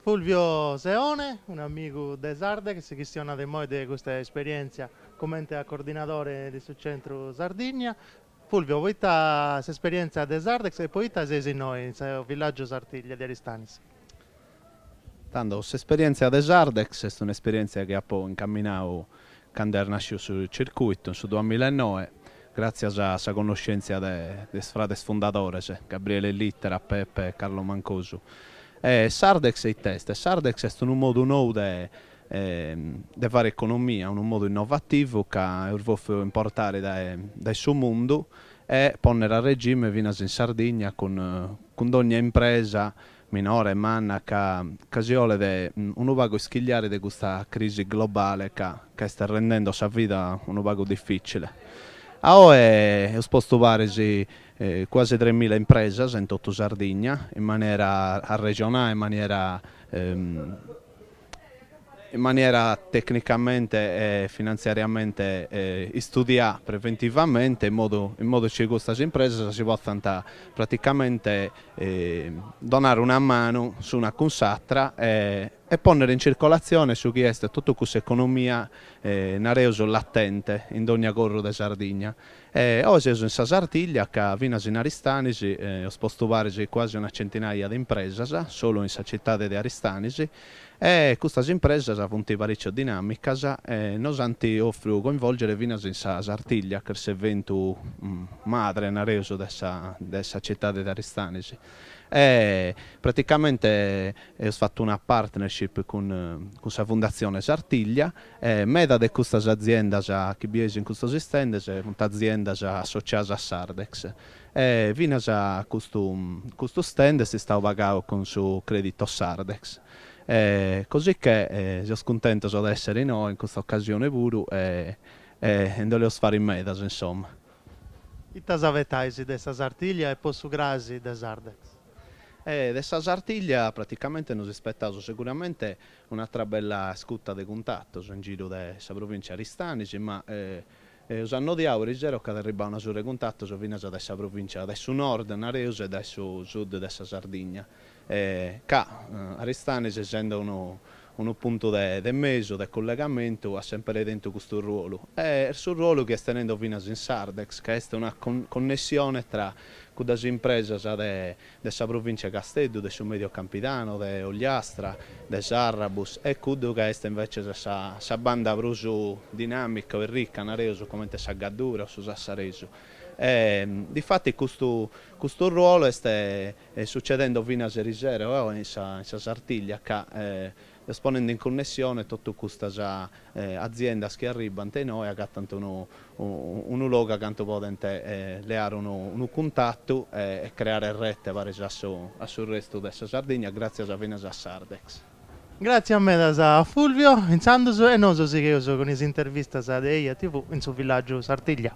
Fulvio Seone, un'amigu de Sardex chi si chistionat immoi de custa esperièntzia comente a coordinadore de su Centru Sardigna. Fulvio, poita s'esperièntzia de Sardex e poita seis innoi in su villàgiu Sartiglia de Aristanis? Tando, s'esperièntzia de Sardex est un'esperièntzia chi apo incaminadu cando est nàsciu su circuitu, in su duamilla e noe, gràtzias a sa connoschèntzia de is frades fundadores, Gabriele Littera, Pepe e Carlo Mancosu. E Sardex e it'est? Sardex est unu modu nou de de fare economia, unu modu innovativu ca eus bòfiu importare dae dae su mundu e pònnere a regime finas in Sardigna cun cun dònnia impresa Minore, manna, ca ca si 'olet unu pagu ischigliare de custa crisi globale ca ca est rendende sa vida unu pagu dificile. A oe eus postu paris cuasi tres mila impresas in totu Sardigna in maniera arrexonà e in maniera in maniera tecnicamente e finantziariamente istudià preventivamente in modu in modu chi custas impresas si potzant praticamente donare una manu s'una cun s'atra e e pònnere in circolatzione su chi est totu cuss'economia nareus latente in dònnia corru de Sardigna E oe seus in sa Sartiglia ca finas in Aristanis eus postu paris cuasi una centinaia de impresas, solu in sa citade de Aristanis, e custas impresas funt pariciu dinamicas e nos ant ofriu coinvolgere finas in sa Sartiglia ch'est s'eventu madre, nareus, de sa de sa citade de Aristanis. E praticamente eus fatu una partnership cun cun sa Fundazione Sartiglia E meda de custas aziendas chi bieis in custos istendes funt aziendas associadas a Sardex. E finas custu custu stand est istau pagadu cun su creditu Sardex. E cosicchè seus cuntentos de essere innoi in custa occasione puru e e e nd'oleus fare medas insomma. Ita s'abetais de sa Sartiglia e po su crasi de Sardex? E de sa Sartiglia praticamente nos ispetaus seguramente Un'atra bella scuta de cuntatos in giru de sa provìntzia 'e Aristanis, ma eus annodiau erisero ch'at arribau una surra 'e cuntatos finas dae sa provìntzia dae su nord, nareus, e dae su sud de sa Sardigna, ca Aristanis essende unu unu puntu de de mesu, de cullegamentu, at sempere tentu custu ruolu, e su ruolu chi est tenende finas in Sardex, ca est una connessione tra cuddas impresas de de sa Provìntzia 'e Casteddu, de su Mèdio Campidanu, de Ogliastra, de Sarrabus, e cuddu chi est invècias sa sa banda prus dinàmica e rica, nareus, comente sa Gaddura o su Sassaresu. E, difatis, custu custu ruolu est sucedende finas erisera oe in sa in sa Sartiglia, ca, Est ponende in cunnessione totu custas aziendas chi arribbant inoi, agatant unu unu logu a cantu podent leare unu unu cuntatu e creare rete paris a su a su restu de sa Sardigna, gràtzias finas a Sardex. Gràtzias medas a Fulvio, intzandus, e nosu sigheus cun is intervistas de Eja TV in su villàgiu Sartiglia.